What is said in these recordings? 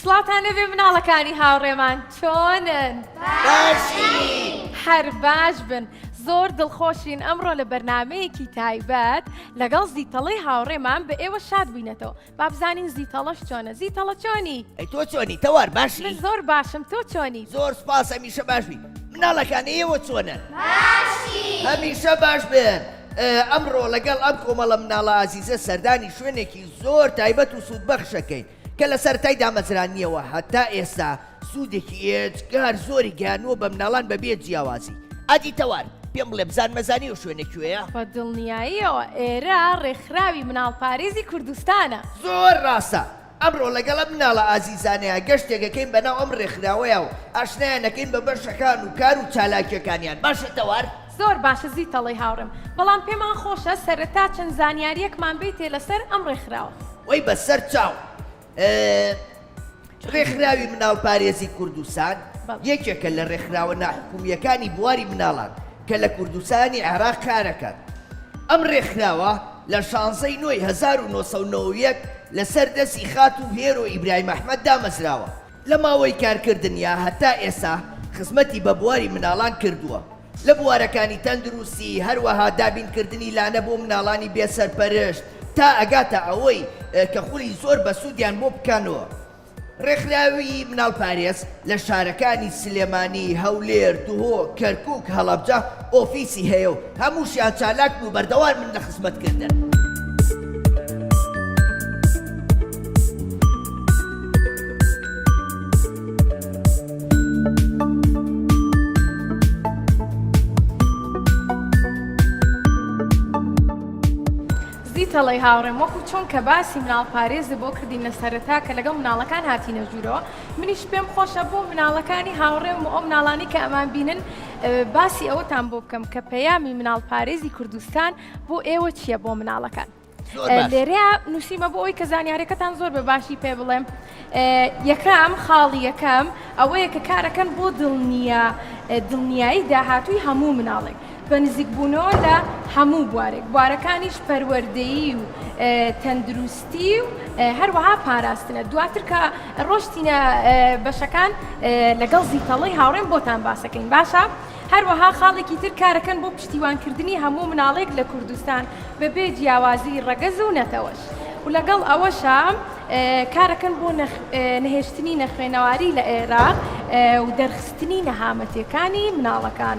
سڵاوتان لێبێ مناڵەکانی هاوڕێمان چۆنن هەر باش بن زۆر دڵخۆشین ئەمڕۆ لە بەرنمەیەکی تایبەت لەگەڵ زیتەڵی هاوڕێمان بە ئێوە شاد بووینەتەوە بابزانین زیتەڵەش چۆنە زیتەڵە چۆنی ئەی تۆ چۆنی تەوار باشی من زۆر باشم تۆ چۆنی زۆر سپاس هەمیشە باش بی مناڵەکانی ئێوە چۆنە باشی. هەمیشە باش بن ئێ، ئەمڕۆ لەگەڵ ئەم کۆمەڵە مناڵە ئازیزە سەردانی شوێنێکی زۆر تایبەت و سوودبەخشەکەین کە لە سەرەتای دامەزرانیەوە هەتا ئێستا سوودێکی ئێجگار زۆری گەیانووە بە مناڵان بە بێ جیاوازی ئادی تەوار، پێم بڵێ بزان مەزانی ئەو شوێنە کوێیە؟ بە دڵنیاییەوە ئێرە ڕێکخراوی مناڵپارێزی کوردستانە. زۆر ڕاستە، ئەمڕۆ لەگەڵ ئەم مناڵە ئازیزانەیا گەشتێک ئەکەین بەناو ئەم ڕێکخراوەیا و ئاشنایان ئەکەین بە بەشەکان و کار و چالاکیەکانیان باشە تەوار؟ زۆر باشە زیتەڵەی هاوڕێم بەڵام پێمان خۆشە سەرەتا چەند زانیاریەکمان بەیتێ لەسەر ئەم ڕێکخراوە. وەی بەسەر چاو ڕێکخراوی مناڵ پارێزی کوردستان یەکێکە لە ڕێکخراوە ناحکومیەکانی بواری مناڵان کە لە کوردستانی عێراق کارەکات ئەم ڕێکخراوە لە شانزەی نۆی هەزار و نۆ سەد و نەوەد و یەک لەسەر دەسی خاتوو هێرۆ ئیبراهیم ئەحمەد دامەزراوە لە ماوەی کارکردنیا هەتا ئێسا خزمەتی بە بواری مناڵان کردووە لە بوارەکانی تەندروستی هەروەها دابین کردنی لانە بۆ مناڵانی بێ سەرپەرشت تا ئەگاتە ئەوەی کە خولی زۆر بەسودیان بۆ بکەنەوە ڕێکخراوی مناڵ پارێز لە شارەکانی سلێمانی، هەولێر، دهۆک، کەرکوک، هەڵەبجە، ئۆفیسی هەیە و هەمووشیان چالاکن و بەردەوامن لە خزمەتکردن. زی تەڵەی هاوڕێم وەکو چۆن کە باسی مناڵ پارێزە بۆ کردین لە سەرەتا کە لەگەڵ مناڵەکان هاتینە ژوورەوە منیش پێم خۆشە بۆ مناڵەکانی هاوڕێم و ئەو مناڵانی کە ئەمان بینن باسی ئەوەتان بۆ بکەم کە پەیامی مناڵ پارێزی کوردستان بۆ ئێوە چییە بۆ مناڵەکان لێرەیە نووسیمە بۆ ئەوی کە زانیارەکەتان زۆر بە باشی پێ بڵێم یەکەم خاڵی یەکەم ئەوەیە کە کارەکەن بۆ دڵنیە دڵنیایی داهاتووی هەموو مناڵێک بە نزیکبوونەوە لە هەموو بوارێک بوارەکانیش پەروەردەیی و تەندروست سی و هەروەها پاراستنە دواتر کە ڕۆشتینە بەشەکان لەگەڵ زیتەڵی هاوڕێن بۆتان باسەکەین باشە هەروەها خاڵێکی تر کارەکەن بۆ پشتیوانکردنی هەموو مناڵێک لە کوردستان بەبێ جیاوازی ڕەگەز و نەتەوەش و لەگەڵ ئەوەشە کارەکەن بۆ نەهێشتنی نەخوێنەواری لە عێراق و دەرخستنی نەهامەتیەکانی مناڵەکان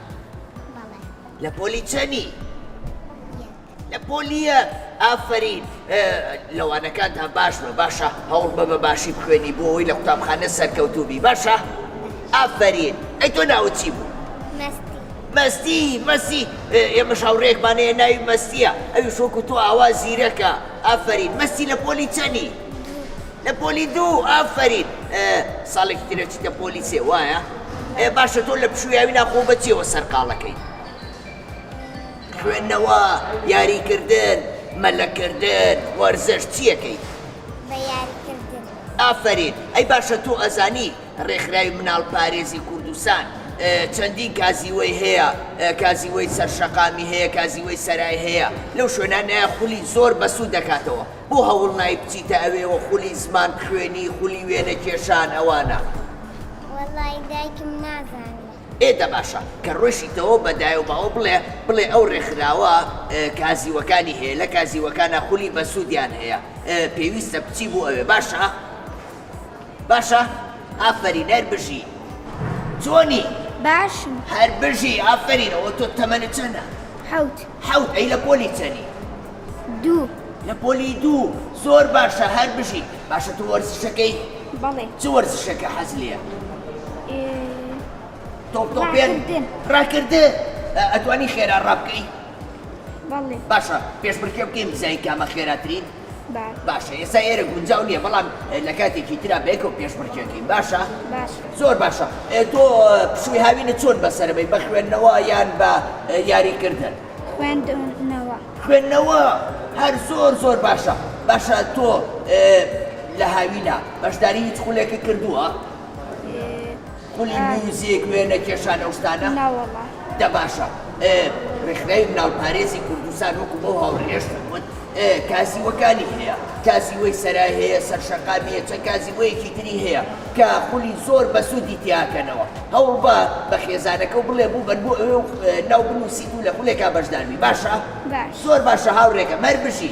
بەڵێ لە پۆلی چەنی؟ یەک لە پۆلی یەک ئافەرین لەوانەکانتان باش بە باشە هەوڵ بە بە باشی بخوێنی بۆ ئەوی لە قوتابخانە سەرکەوتوبی باشە ئافەرین ئەی تۆ ناوت چی بوو؟ مەستی مەستی مەسی ئێمە شاوڕێکمانەیە ناوی مەستیە ئەوی شۆک و تۆ ئاوا زیرەکە ئافەرین مەستی لە پۆلی چەنی؟ لە پۆلی دوو ئافەرین ساڵێکی ترە چیتە پۆلی سێ وایە ئێ باشە تۆ لە پشویاوی ناخۆ بەچیەوە سەرقاڵەکەی خوێندنەوە یاریکردن مەلەکردن وەرزش چیەکەی ئافرین ئەی باشە تۆ ئەزانی ڕێکخراوی مناڵ پارێزی کوردستان چەندین کازیوەی هەیە کازیوەی سەرشەقامی هەیە کازیوەی سەرای هەیە لەو شوێنانەیە خولی زۆر بەسوود دەکاتەوە بۆ هەوڵ نای بچیتە ئەوێوە خولی زمان خوێنی خولی وێنە کێشان ئەوانە. وەڵای دایکم نازانی. ئێ دە باشە کە ڕۆیشیتەوە بە دایە و باوە بڵێ بڵێ ئەو ڕێکخراوە کازیوەکانی هەیە لە کازیوەکانا خولی بەسوودیان هەیە پێویستە بچی بو ئەوێ باشە. باشە ئافەرین هەر بژی جۆنی باشم هەر بژی ئافەرین ئەوە تۆ تەمەنت چەنە حەوت حەوت ئەی لە پۆلی چەنی دوو لە پۆلی دوو زۆر باشە هەر بژی باشە تۆ وەرزشەکەی بەڵێ چ وەرزشەکە حەز لێە تۆپ تۆپێن ڕاکردن ڕاکردن ئە- ئەتوانی خێرا ڕابکەی بەڵێ باشە پێشبڕکێ بکەین بزانین کامە خێراترین باشە ئێستا ئێرە گونجاو نییە بەڵام لە کاتێکی تررا بێکەوە پێشبڕکێکین باشە زۆر باشە تۆ پشووی هاوینە چۆن بەسەرەبەی بە خوێندنەوە یان بە یاریکردن خوێندنەوە خوێندنەوە هەر زۆر زۆر باشە باشە تۆ لە هاوینە بەشداری هیچ خولێکە کردووە؟ خولی میوزیک وێنە کێشان ئەو شتانە؟ ناوەڵا. دە باشە ئێ ڕێکخراوی مناڵ پارێزی کوردستان وەکو بەو هاوڕێیەشتم وت ئێ کازیوەکانی هەیە کازیوەی سەرای هەیە سەر شەقامی هەیە چەند کازیوەیەکی تری هەیە کە خولی زۆر بەسودی تیاکەنەوە هەوڵبە بە خێزانەکەو بڵێ بوبەن بۆ ئەوێ و ناو بنوسی و لە خولێکا بەشداربی باشە؟ باش. زۆر باشە هاوڕێکەم هەر بژی.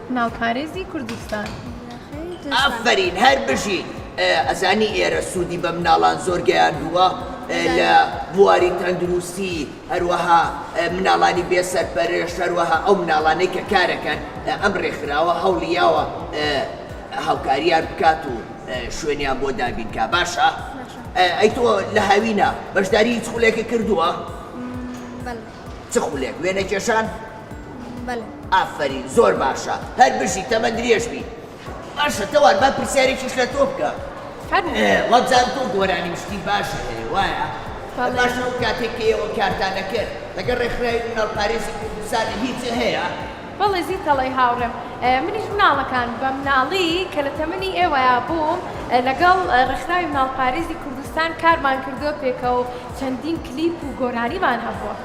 ناوپارێزی کوردستان. ئافەرین هەر بژیت ئەزانی ئێرە سودی بە مناڵان زۆر گەیاندووە لە بواری تەندروستی هەروەها مناڵانی بێ سەرپەرشت هەروەها ئەو مناڵانەی کە کارەکەن ئەم رێکخراوە هەوڵی یاوە هاوکاریان بکات و شوێنیان بۆ دابین کا باشە ئەی تۆ لە هاوینە بەشداری هیچ خولێکە کردووە؟ چ خولێک وێنە کێشان؟ بەلێ. ئافەرین زۆر باشە هەر بژی تەمەن درێژ بی باشە تەوار با پرسیارێکیش لە تۆ بکە فەرموو. وەبزان تۆ گۆرانی شتی باشە هەیە وایە؟ بەڵێ. باش ئەو کاتێک کە ئێوە کارتان دەکرد لەگەڵ ڕێکخراوی مناڵپارێزی کوردستان هیچ هەیە؟ بەڵێ زیت دەڵێی هاوڕێم منیش مناڵەکان بە مناڵی کە لە تەمەنی ئێوەیا بووم لەگەڵ ڕێکخراوی مناڵپارێزی کوردستان کارمان کردووە پێکەوە و چەندین کلیپ و گۆرانیمان هەبووە.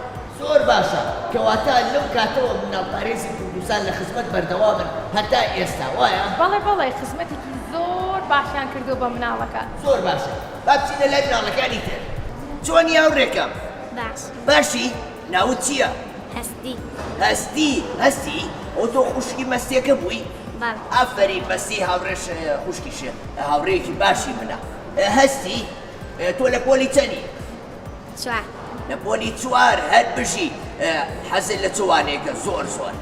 زۆر باشە کەواتە لەو کاتەوە مناڵ پارێزی کوردستان لە خزمەت بەردەوامن هەتا ئێستا وایە؟ بەڵێ بەڵێ خزمەتێکی زۆر باشیان کردووە بە مناڵەکان. زۆر باشە با بچینە لای مناڵەکانی تر. چۆنی هاوڕێکەم؟ باش. باشی؟ ناوت چیە؟ هەستی. هەستی؟ هەستی؟ ئەو تۆ خوشکی مەستیەکە بووی؟ بەڵێ. ئافەرین مەستی هاوڕێ خوشکی شێخ هاوڕێیەکی باشی منە. هەستی؟ تۆ لە پۆلی چەنی؟ چوار. لە پۆلی چوار هەر بژی حەزت لە چ وانەیەکە زۆر زۆر؟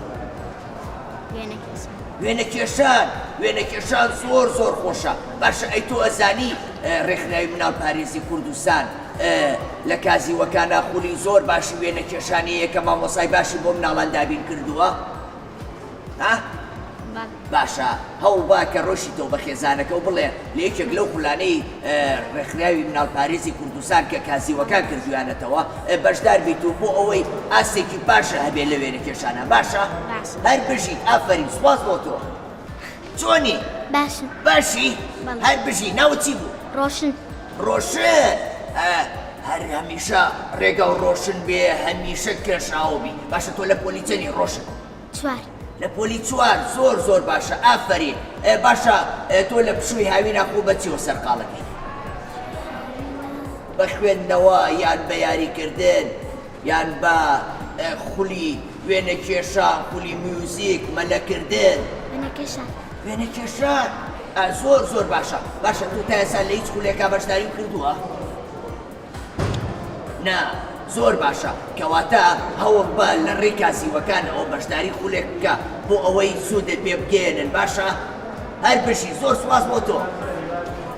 وێنە کێشان وێنە کێشان زۆر زۆر خۆشە باشە ئەی تۆ ئەزانی ڕێکخراوی مناڵ پارێزی کوردستان لە کازیوەکانە خولی زۆر باشی وێنە کێشانەیە کە مامۆسای باشی بۆ مناڵان دابین کردووە ها؟ باشە هەوڵبە کە ڕۆشیتەوە بە خێزانەکە و بڵێ لە یەکێک لەو خولانەی ڕێکخراوی مناڵپارێزی کوردستان کە کازیوەکان کردویانەتەوە بەشدار بیت و بۆ ئەوەی ئاستێکی باشە هەبێ لە وێنەکێشانە باشە هەر بژیت ئافەرین سوپاس بۆ تۆ چۆنی؟ باشم باشی؟ هەر بژی ناوت چی بوو؟ ڕۆشن ڕۆشن ە هەر هەمیشە ڕێگاو ڕۆشن بێ هەمیشە کێشاوە بی باشە تۆ لە پۆلی چەنی ڕۆشن؟ چوار. لە پۆلی چوار زۆر زۆر باشە ئافەرین باشە تۆ لە پشووی هاوینا خۆ بە چیەوە سەرقاڵەکەی؟ بە خوێندنەوە یان بە یاریکردن؟ یان بە خولی وێنەکێشان، خولی میوزیک، مەلەکردن. وێنەکێشان. وێنەکێشان. ئا زۆر زۆر باشە. باشە تۆ تا ئێستا لە هیچ خولێکا بەشداریم کردووە؟ نا. زۆر باشە کەواتە هەوڵ بە لە ڕێی کاسیوەکانەوە بەشداری خولێک بکە بۆ ئەوەی سوودت پێ بگەێنن باشە هەر بژی زۆر سوپاس بۆ تۆ.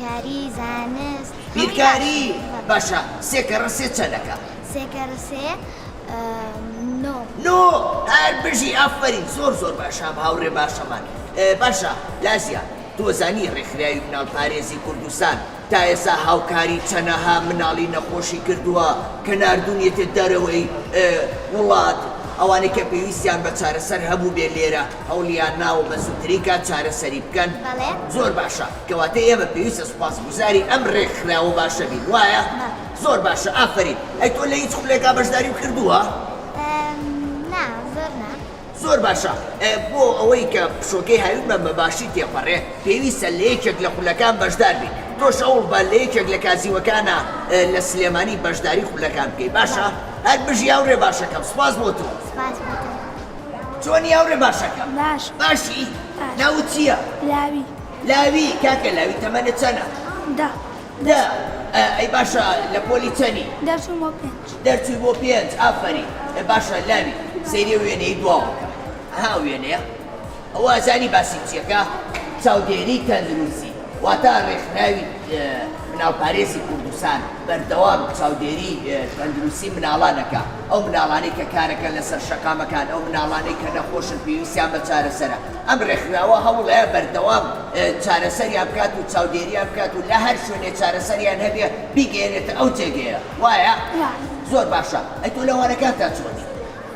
کاری زانست بیرکاری باشە سێ کەڕە سێ چەنەکە. سێ کەڕە سێ نۆ. نۆ هەر بژی ئافەرین زۆر زۆر باشە هاوڕێ باشەمان باشە لازیا تۆزانی ڕێکخراوی مناڵ پارێزی کوردستان تا ئێسا هاوکاری چەنەها مناڵی نەخۆشی کردووە کە ناردونیەتێ دەرەوەی وڵات ئەوانەی کە پێویستیان بە چارەسەر هەبووبێ لێرە هەوڵیان ناوە بە زووترین کات چارەسەری بکەن زۆر باشە. کەواتە ئێمە پێویستە سوپاسگوزاری ئەم ڕێکخراوە باشە بین وایە؟ زۆر باشە ئافەرین. ئەی تۆ لە هیچ خولێکا بەشداریم کردووە؟ نا زۆر نا. زۆر باشە بۆ ئەوەی کە پشۆکەی هاوینمان بە باشی تێپەڕێ پێویستە لە یەکێک لە خولەکان بەشدار بی. تۆش هەوڵ بە لە یەکێک لە کازیوەکانە لە سلێمانی بەشداری خولەکان بکەی باشە؟ هەر بژی هاوڕێ باشەکەم سوپاس بۆ تۆ. سوپاس بۆ تۆ. چۆنی هاوڕێ باشەکەم؟ باش. باشی؟ ناوت چییە؟ لاوی. لاوی کاکە لاوی تەمەنت چەنە؟ دە. دە ئەی باشە لە پۆلی چەنی؟ دەرچووم بۆ پێنج. دەرچووی بۆ پێنج ئافەرین باشە لاوی سەیری ئەو وێنەی دواوە بکە ئەها ئەو وێنەیە ئەوە ئەزانی باسی چیەکا چاودێری تەندروسی واتا ڕێکخراوی مناڵپارێزی کوردستان بەردەوام چاودێری تەندروسی مناڵان ئەکا ئەو مناڵانەی کە کارەکەن لەسەر شەقامەکان ئەو مناڵانەی کە نەخۆشن پێویستیان بە چارەسەرە ئەم ڕێکخراوە هەوڵەیە بەردەوام چارەسەریان بکات و چاودێریان بکات و لە هەر شوێنێ چارەسەریان هەبێ بیگەیەنێتە ئەو جێگەیە وایە؟ وایە. زۆر باشە ئەی تۆ لە وانەکانتا چۆنی؟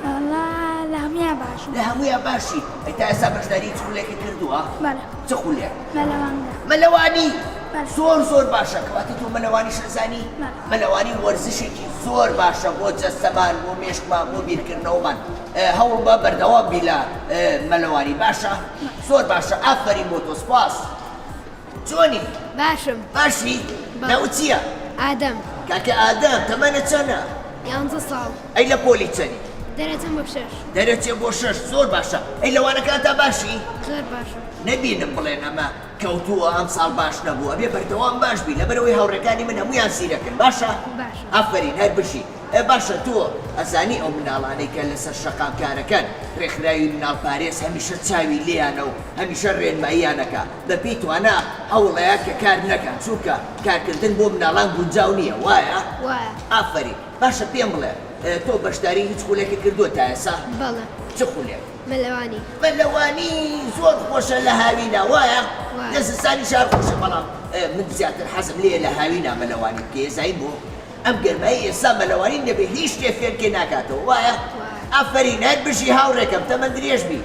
وەڵا لە هەموویان باشم. لە هەموویان باشی؟ ئەی تا ئێستا بەشداری هیچ خولێکت کردووە؟ بەڵێ. چ خولێک؟ مەلەوانگە. مەلەوانی؟ بەڵێ. زۆر زۆر باشە کەواتە تۆ مەلەوانیش ئەزانی؟ بەڵێ. مەلەوانی وەرزشێکی زۆر باشە بۆ جەستەمان بۆ مێشکمان بۆ بیرکردنەوەمان. هەوڵبە بەردەوام بی لە مەلەوانی باشە زۆر باشە ئافەرین بۆ تۆ سپاس چۆنی باشم باشی ناو چییە؟ ئادەم کاکە ئادەم تەمەنە چەنە؟ یانزە ساڵ ئەی لە پۆلی چەنی؟ دەرەچم بە شەش دەرەچێ بۆ شەش زۆر باشە ئەی لەوانەکانتا باشی؟ زۆر باشم نەبینم بڵێن ئەمە کەوتووە ئەم ساڵ باش نەبوو ئەبێ بەردەوام باش بی لەبەرەوەی هاوڕێکانی من هەموویان زیرەکن باشە؟ باشە ئافەرین هەر بژی. ئێ باشە تۆ ئەزانی ئەو مناڵانەی کە لەسەر شەقام کارەکەن رێکخراوی مناڵ پارێز هەمیشە چاوی لێیانە و هەمیشە رێنماییان ئەکا بە پێی توانا هەوڵەیە کە کار نەکەن چونکە کارکردن بۆ مناڵان گونجاو نیە وایە؟ وایە. ئافەرین باشە پێم بڵێ تۆ بەشداری هیچ خولێکت کردووە تا ئێسا؟ بەڵێ. چ خولێک؟ مەلەوانی. مەلەوانی زۆر خۆشە لە هاوینا وایە؟ وایە. لە زستانیش هەر خۆشە بەڵام من زیاتر حەزم لێیە لە هاوینا مەلەوانی بکەی ئەزای بۆ؟ ئەم گەرمای ئێستا مەلەوانین دەبێ هیچ شتێ فێنکێ ناکاتەوە وایە؟ وایە. ئافەرین هەر بژی هاوڕێکەم تەمەن درێژ بی.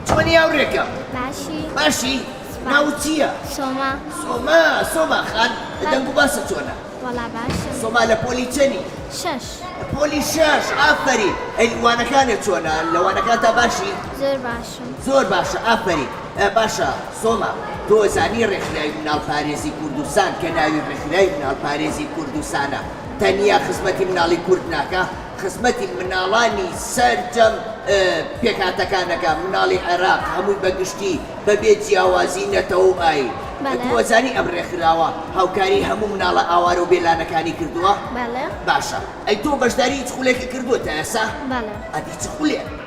چۆنی هاوڕێکەم؟ باشی. باشی؟ سوپاس. ناوت چییە؟ سۆما. سۆما سۆما خان دەنگ و باست چۆنە؟ وەڵا باشە. سۆما لە پۆلی چەنی؟ شەش. پۆلی شەش ئافەرین. هەی وانەکانت چۆنە؟ لە وانەکانتا باشی؟ زۆر باش. زۆر باشە ئافەرین. باشە سۆما تۆ زانی ڕێکخراوی مناڵ پارێزی کوردستان کە ناوی ڕێکخراوی مناڵ پارێزی کوردستانە تەنیا خزمەتی مناڵی کورد ناکا خزمەتی مناڵانی سەرجەم پێکهاتەکانەکا مناڵی عێراق هەمووی بە گشتی بە بێ جیاوازی نەتەوە و ئاین تۆ ئەزانی ئەم ڕێکخراوە هاوکاری هەموو مناڵە ئاوارە و بێلانەکانی کردووە؟ باشە ئەی تۆ بەشداری هیچ خولێکی کردووە تا ئێستا؟ ئەدی چ خولێک؟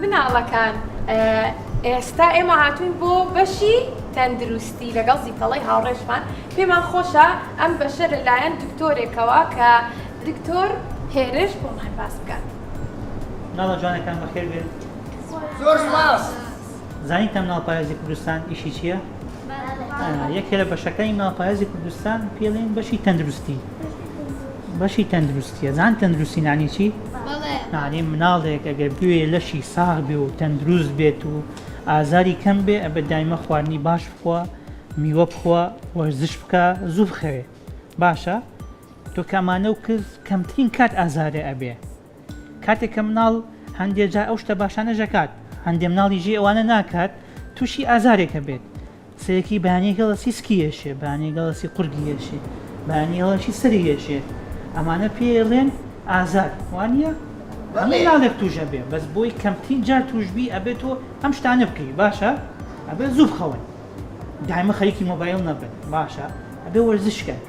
مناڵەکان ئێستا ئێمە هاتوین بۆ بەشی تەندروستی لەگەڵ زیتەڵی هاوڕێشمان پێمان خۆشە ئەم بەشە لەلایەن دکتۆرێکەوە کە دکتۆر هێرش بۆمان باس بکات ناڵە جوانەکان بەخێر بێن زۆر سپاس زانیتان مناڵ پارێزی کوردستان ئیشی چییە؟ یەکێ لە بەشەکانی ناپایەزی کوردستان پێڵێن بەشی تەندروستی بەشی تەندروستیە زان تەندروستی نانی چی نانی مناڵێک ئەگەر بوێ لەشی ساغ بێ و تەندروست بێت و ئازاری کەم بێ ئە بە دایمە خواردنی باش بخوا میوە بخوا وەرزش بکە زوو بخەوێ باشە تۆ کامانە و کز کەمترین کات ئازارێ ئەبێ کاتێک کە مناڵ هەندێ جار ئەو شتە باشانەش ئەکات هەندێ مناڵی ژێ ئەوانە ناکات تووشی ئازارێک ئەبێت سەرەکی بەیانی هێڵەسی سکی ئێشێ بەیانی هێڵەسی قورگی ئێشێ بەیانی هێڵەشی سەری ئێشێ ئەمانە پێڵێن ئازار وانە هەموو ناڵێک تووش ئەبێ بەس بۆی کەمترین جار تووشبی ئەبێت تۆ ئەم شتانە بکەی باشە ئەبێ زوو بخەون. دایمە خەریکی مۆبایل نەبن باشە ئەبێ وەرزش کەن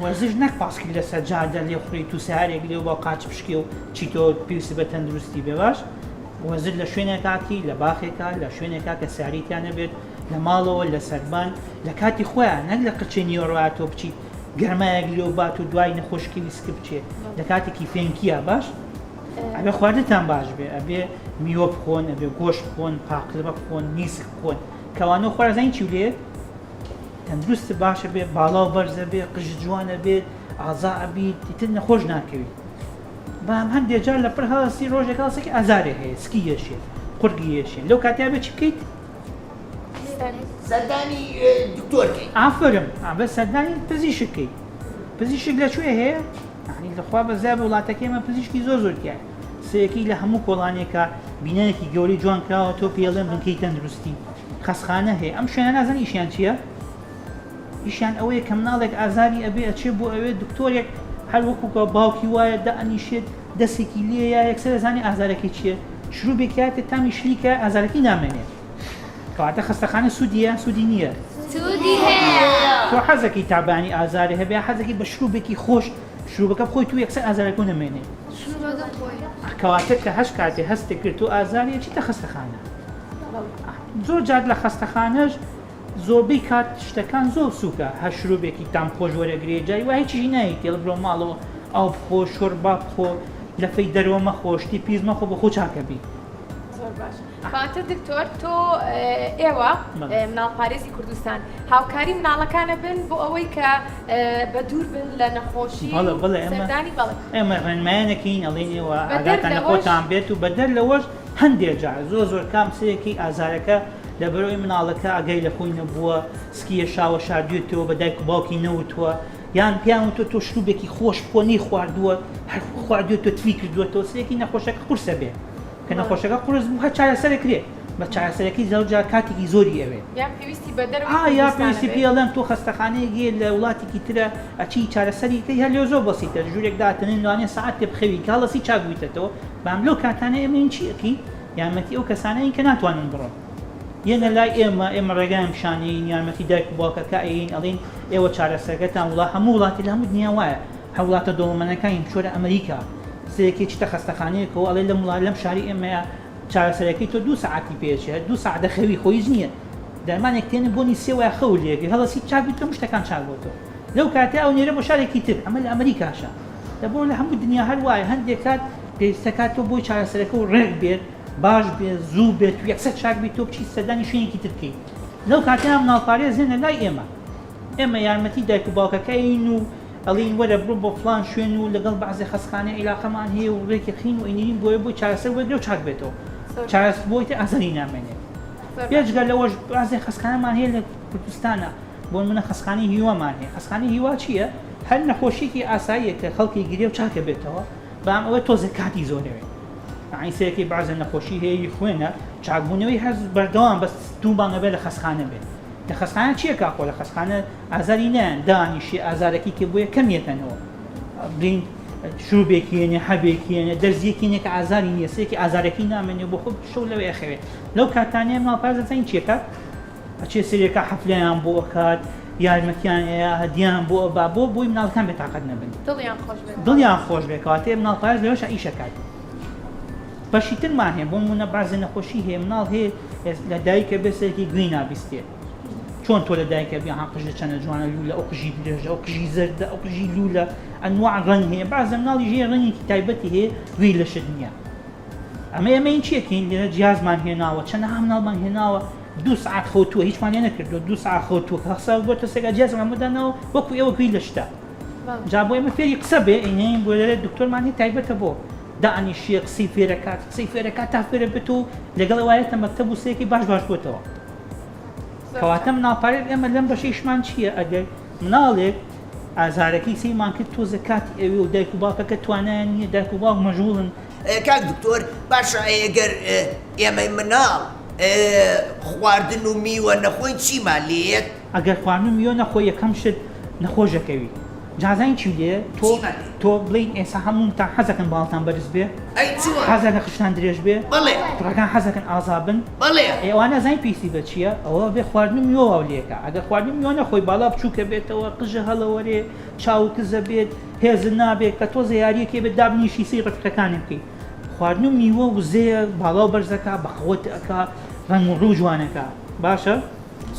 وەرزش نەک پاسکیل لەسەر جادە لێ خوڕیت و سارێک لێ با قاچ پشکێ و چیتۆ پێویست بە تەندروستی بێ باش وەزر لە شوێنێکاتی لە باخێکا لە شوێنێکا کە ساریتیان نەبێت لە ماڵەوە لە سەربان لە کاتی خۆیان نەک لە قچێ نیوەڕاتۆ بچیت گەرمایەک لێو بات و دوای نەخۆشکی ویسک بچێت لە کاتێکی فێنکیە باش ئەبێ خواردتان باش بێ ئەبێ میوە بخۆن ئەبێ گۆش بخۆن پاقلبە بخۆن نیسک بخۆن کەوانەوە خۆرا زانین چی لێ تەندروست باشە بێ باڵا و بەرزە بێ قژ جوانە بێت ئازا ئەبیت تر نەخۆش ناکەویت بەم هەندێک جار لە پڕ هاسی ڕۆژێک هاسێکی ئازارێ هەیە سکی یەشێ قورگی یەشێن لەو کاتیا بێ چی بکەیت سەردانی دکتۆرکەی ئافرم ئابە سەردانی پزیشکەی پزیشک لە کوێ هەیە لەخوا بەزای وڵاتەکەی مە پزیشکی زۆر زۆرتیایە سەرەکی لە هەموو کۆڵانێکە بینایەکی گەورەی جوان کراوە تۆ پێڵێن بنکەی تەندروستی خەسخانە هەیە ئەم شوێنە نازن ئیشیان چییە؟ ئیشیان ئەوەیە کە مناڵێک ئازاری ئەبێ ئەچێ بۆ ئەوێ دکتۆرێک هەر وەکوکە باوکی وایە دە ئەنیشێت دەستێکی لێ یا یەکسەر زانانی ئازارەکەی چییە شروبێکاتێ تامی شلیکە ئازارەکەی نامێنێت کەواتە خستەخانە سوودیە سوودی نییە تۆ حەزەکەی تابانی ئازاری هەبێ حەزەکەی بە شروبێکی خۆش شروبەکە بخۆی تو یەکسەر ئازارەکەو نەمێنێ. شروبەکە بخۆی. کەواتە کە هەش کاتێ هەستت کرد تو ئازاری ئەچیتە خەستەخانە. زۆر جار لە خەستەخانەش زۆربەی کات شتەکان زۆر سوکە هەر شروبێکی تام خۆش وەرەگرێ جاری وا هیچیشی نایەی تێڵ برۆ ماڵەوە ئاو بخۆ شۆربا بخۆ لەفەی دەرۆ مەخۆ شتی پیس مەخۆ بۆخۆو چاکەبی. زۆر باش. خاتو دکتۆر تۆ ئێوە مناڵ پارێزی کوردستان هاوکاری مناڵەکانە بن بۆ ئەوەی کە بە دوور بن لە نەخۆشی سەردانی بەڵێ ئێمە ڕێنمایانەکەین ئەڵێن ئێوە ئاگاتان لە خۆتان بێت و بەدەر لەوەش هەندێک جار زۆر زۆر کام سەرێکی ئازارەکە لەبەرەوەی مناڵەکە ئاگای لە خۆی نەبووە سکیە شاوە شاردوێتەوە بە دایک و باوکی نەوتووە یان پیان وتۆ تۆ شروبێکی خۆش بکۆنی خواردووە هەر خواردوێت تۆ تری کردوێتەوە سێکی نەخۆشەکە قورسە بێت کە نەخۆشەکە قورس بوو هەر چارەسەرێ کرێ بە چارەسەرەکەی زەوجار کاتێکی زۆری ئەوێ یان پێویستی بە دەر یا پێویستی پێڵێن تۆ خەستەخانەیە گێ لە وڵاتێکی ترە ئەچی چارەسەریکەی هەر لێ زۆر بەسیتە ژوورێک داتنین لەوانێ سعات تێ بخەوی کاڵەسی چاک بوویتەوە بام لەو کاتانەی ئەمەین چی ئەکی یارمەتی ئەو کەسانەی کە ناتوانن بڕۆن یەنە لای ئێمە ئێمە ڕێگایم پیشانەیین یارمەتی دایک و باوکەکە ئەین ئەڵین ئێوە چارەسەرگەتان وڵا هەموو وڵاتی لە هەموو دنیا وایە هە وڵاتە دەوڵەمەنەکانی بچۆرە ئە مریکا سەیرکەی چیتە خەستەخانەیەکەوە ئەڵێ لەم وڵا لەم شاری ئێمەیە چارەسەرەکەی تۆ دوو سەعاتی پێچێ دوو سەعات دەخەوی خۆ هیچ نییە دەرمانێک تێنە بۆنی سێ وای خەو لێگری هەڵەسی چاک بیت کە مشتەکان چاک بۆ تۆ لەو کاتە ئەو نێرە بۆ شارێکی تر ئەمە لە ئەمریکاشە دە بۆ لە هەموو دنیا هەر وایە هەندێک کات پێویستە کات تۆ بۆی چارەسەرەکە و ڕێک بێت باش بێت زوو بێت و یەکسەر چاک بیت تۆ بچیت سەردانی شوێنێکی تر بکەیت لەو کاتەیە مناڵپارێز هێنە لای ئێمە ئێمە یارمەتی دایک و باوکەکەین و ئەڵێی وەرە بڕۆ بۆ فڵان شوێن و لەگەڵ بەعزێ خەسخانەی ئیلاقەمان هەیە و ڕێکی قین و ئینیرین بۆیە بۆی چارەسەر وەرگرە و چاک بێتەوە چارەس بۆی تر ئازاری نامێنێت بێجگە لەوەش بەعزێ خەسخانەمان هەیە لە کوردستانە بۆ نمونە خەسخانەی هیوامان هەیە خەسخانەی هیوا چییە هەر نەخۆشیکی ئاساییە کە خەڵکی گرێ و چاکە بێتەوە بەام ئەوە تۆزێ کاتی زۆرەوێ عین سەرەکی بەعزێ نەخۆشی هەیە خوێنە چاکبوونەوەی هەز بەردەوام بەس دوو مانگە بێ لە خەسخانە بێ لە خەسخانە چییە کا خۆ لە خەسخانە ئازاری نایەن دانیشێ ئازارەکەی کە بۆیە کەم یەتەنەوە بلین شروبێکیێنێ حەبێکیێنێ دەرزیەکیێنێ کە ئازاری نیە سێکی ئازارەکەی نامێنێ بۆ خۆ شەو لەوێ ئەخەوێت لەو کاتانەیە ماڵپارزەزین چێکات ئەچێ سرێکە حەفلیان بۆ ئەکات یارمەتیان ئەیە هەدیان بۆ ئەبا بۆ بۆی مناڵەکان بێتاقەت نەبن دڵیان خۆش بێکاتێ مناڵپارێز لەوەش ئیشەکات بەشی ترمان هەیە بۆ منە بازێ نەخۆشی هەیە مناڵ هەیە لە دایکە بێسێکی گوێی نابیستێ چۆن تۆ لە دایکە بێ ها قژە چەنە جوانە لولە ئەو قژی درێژە ئەو قژی زەردە ئەو قژی لولە ئەنواع ڕەنگ هەیە بازە مناڵی ژێ ڕەنگێکی تایبەتی هەیە گوێی لەشت نییە ئەمە ئەمە این چیەکەین لێرە جیازمان هێناوە چەند ها مناڵمان هێناوە دو سعات خەوتووە هیچمان لێ نەکردو دو سعات خەوتووە کە خسا بۆ تەسێکا جیازمان مدانەوە وەکو ئێوە گوێی لە شتە جا بۆ ئێمە فێری قسە بێ ئینەین بۆ لەێ دکتۆرمان هەیە تایبەتە بۆ دانیشیە قسەی فێرەکات قسەی فێرەکات تا فێرە بێت و لەگەڵ وایەتە مەکتەب و سێکی باش باش بۆتەوە کەواتە مناڵ پارێز ئێمە لەم بەشەی شمان چییە ئەگەر مناڵێک ئازارەکەی سەیمان کرد تۆزە کاتی ئەوێ و دایک و باپەکە توانایان نییە دایک و باوک مەژوڵن کاک دکتۆر باشە ئەگەر ئێمەی مناڵ خواردن و میوە نەخۆین چیمان لێیەت؟ ئەگەر خواردن و میوە نەخۆی یەکەم شت نەخۆش ئەکەوی. جازاین چی دێ تۆ چی مەکەین؟ تۆ بڵێین ئێسا هەموونتان حەزەکەن باڵتان بەرز بێ؟ ئەی چۆن؟ حەزەکەن قژتان درێژ بێ؟ بەڵێ. کوڕەکان حەزەکەن ئازا بن؟ بەڵێ. ئێ ئەوە نازانین پێویستی بە چییە؟ ئەوە ئەبێ خواردن و میوە واو لێ کا. ئەگەر خواردن و میوە نەخۆی، باڵا بچووکە بێتەوە، قژە هەڵەوەرێ، چاو و کزە بێت، هێزت نابێ، کە تۆزێ یارییەک هەیە بێت دابنیشی سەیری ڕەفیقەکانی بکەی. خواردن و میوە وزەیە، باڵا و بەرز ئەکا، بەخەوت ئەکا، ڕەنگ و ڕوو جوان ئەکا. باشە؟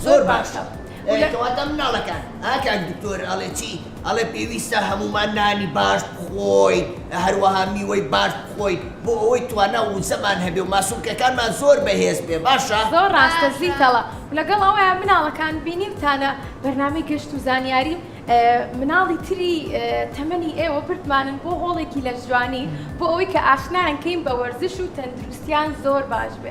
زۆر باشە. ئەی کەواتە مناڵەکان؟ ها کاک دکتۆر ئەڵێ چی؟ ئەڵێ پێویستە هەموومان نانی باش بخۆین هەروەها میوەی باش بخۆین بۆ ئەوەی توانا و وزەمان هەبێ و ماسولکەکانمان زۆر بەهێز بێ باشە؟ زۆر ڕاستە زیتەڵە و لەگەڵ ئەوەیا مناڵەکان بینیوتانە بەرنامەی گەشت و زانیاری مناڵی تری تەمەنی ئێوە بردمانن بۆ هۆڵێکی لەشجوانی بۆ ئەوەی کە ئاشنایان کەین بە وەرزش و تەندروستیان زۆر باش بێ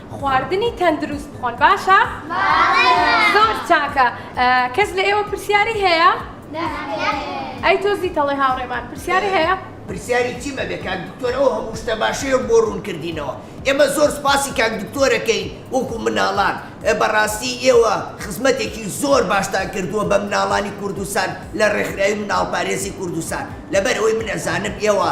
خواردنی تەندروست بخۆن باشە؟ باشە. زۆر چاکە کەس لە ئێوە پرسیاری هەیە؟ نەخێر. ئەی تۆ زیتەڵەی هاوڕێمان پرسیاری هەیە؟ پرسیاری چیم ئەبێ کاک دکتۆر ئەو هەموو شتە باشەیەو بۆ ڕوون کردینەوە ئێمە زۆر سوپاسی کاک دکتۆرەکەین وەکو مناڵان بەڕاستی ئێوە خزمەتێکی زۆر باشتان کردووە بە مناڵانی کوردستان لە ڕێکخراوی مناڵپارێزی کوردستان لەبەر ئەوەی من ئەزانم ئێوە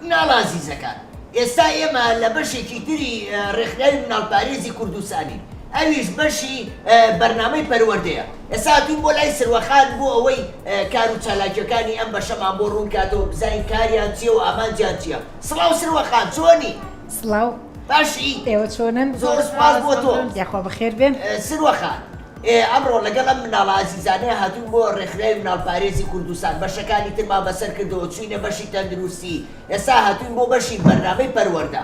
مناڵە ئازیزەکان، ئێستا ئێمە لە بەشێکی تری ڕێکخراوی مناڵپارێزی کوردستانین، ئەویش بەشی بەرنامەی پەروەردەیە، ئێستا هاتووین بۆ لای سروەخان بۆ ئەوەی کار و چالاکییەکانی ئەم بەشەمان بۆ ڕوون کاتەوە بزانین کاریان چییە و ئامانجیان چییە. سڵاو سروە خان، چۆنی؟ سڵاو. باشی؟ ئێوە چۆنن؟ زۆر سوپاس بۆ تۆ. یاخوا بەخێر بێن. سروە خان، ئێ ئەمڕۆ لەگەڵ ئەم مناڵە ئازیزانەیا هاتووین بۆ ڕێکخراوی مناڵ پارێزی کوردستان بەشەکانی ترمان بەسەر کردەوە چووینە بەشی تەندروستی ئێستا هاتووین بۆ بەشی بەرنامەی پەروەردە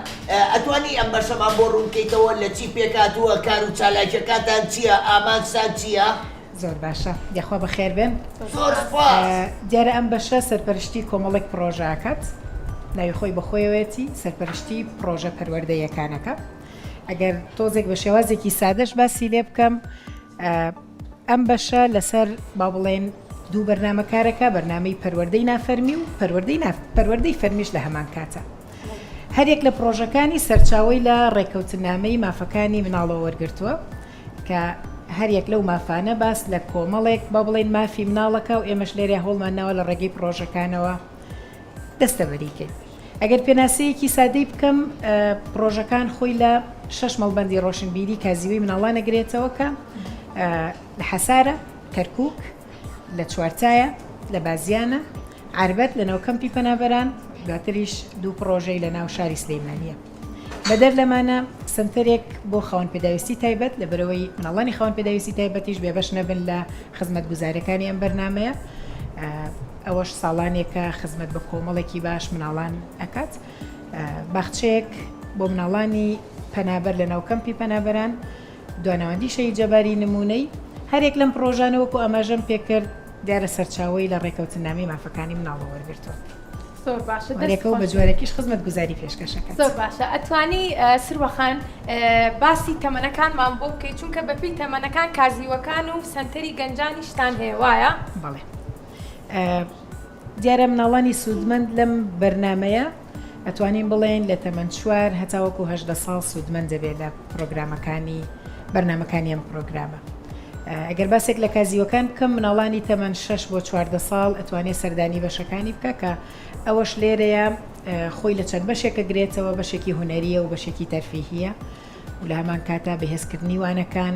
ئەتوانی ئەم بەشەمان بۆ ڕوون کەیتەوە لە چی پێک هاتووە کار و چالاکیەکانتان چیە ئامانجتان چیە؟ زۆر باشە یەخوا بەخێر بێن. زۆر سوپاس. دیارە ئەم بەشە سەرپەرشتی کۆمەڵێک پڕۆژە ئەکات ناوی خۆی بەخۆیەوەیەتی سەرپەرشتی پڕۆژە پەروەردەییەکان ئەکا. ئەگەر تۆزێک بە شێوازێکی سادەش باسی لێ بکەم ئەم بەشە لەسەر با بڵێن دوو بەرنمەکارەکە بەرنمەی پەروەەردەی نافەرمی و پەروەەردەی پەروەەردەی فەرمیش لە هەمان کاتە هەرێک لە پرۆژەکانی سەرچاوی لە ڕێککەوتنامەی مافەکانی مناڵەوە وەرگتووە کە هەریەک لەو مافانە باس لە کۆمەڵێک با بڵین مافی مناڵەکە و ئێمەش لێرە هەوڵمان ناوە لە ڕێگەی پرۆژەکانەوە دەستەبەریکەین. ئەگەر پێناسەیەکی سادەی بکەم، پڕۆژەکان خۆی لە شەش مەڵبەندی ڕۆشنبیری کازیوەی مناڵانە گرێتەوە کە لە حەسارە، کەرکووک، لە چوارتایە، لە بازیانە، عەربەت، لە ناو کەمپی پەنابەران، دواتریش دوو پڕۆژەی لە ناو شاری سلیمانییە. بەدەر لەمانە سەنتەرێک بۆ خاوەن پێداویستی تایبەت لەبەرئەوەی مناڵانی خاوەن پێداویستی تایبەتیش بێبەش نەبن لە خزمەتگوزاریەکانی ئەم بەرنامەیە ئەوەش ساڵانێکە خزمەت بە کۆمەڵێکی باش مناڵان ئەکات باخچەیەک بۆ مناڵانی پەنابەر لە ناوکەمپی پەنابەران دواناوەندی شەهید جەباری نموونەی هەریەک لەم پڕۆژانە وەکو ئاماژەم پێکرد دیارە سەرچاوەی لە ڕێکەوتننامەی مافەکانی مناڵەوە وەرگرتووە. زۆر باشە دەست خۆش. هەریەکە و بە جۆرێکیش خزمەتگوزاری پێشکەشەکەت. زۆر باشە ئەتوانی سروە خان باسی تەمەنەکانمان بۆ بکەی چونکە بە پێی تەمەنەکان کازیوەکان و سەنتەری گەنجانیشتان هەیە وایە؟ بەڵێ. دیارە مناڵانی سوودمەند لەم بەرنامەیە ئەتوانین بڵێین لە تەمەن چوار هەتاوەکو هەژدە ساڵ سوودمەند دەبێت لە پڕۆگرامەکانی بەرنامەکانی ئەم پڕۆگرامە ئەگەر باسێک لە کازیوەکان بکەم مناڵانی تەمەن شەش بۆ چواردە ساڵ ئەتوانێت سەردانی بەشەکانی بکە کە ئەوەش لێرەیە خۆی لە چەند بەشێکە گرێتەوە بەشێکی هوەریە و بەشێکی تەرفیهە و لە هەمان کاتا بەهێزکردنی وانەکان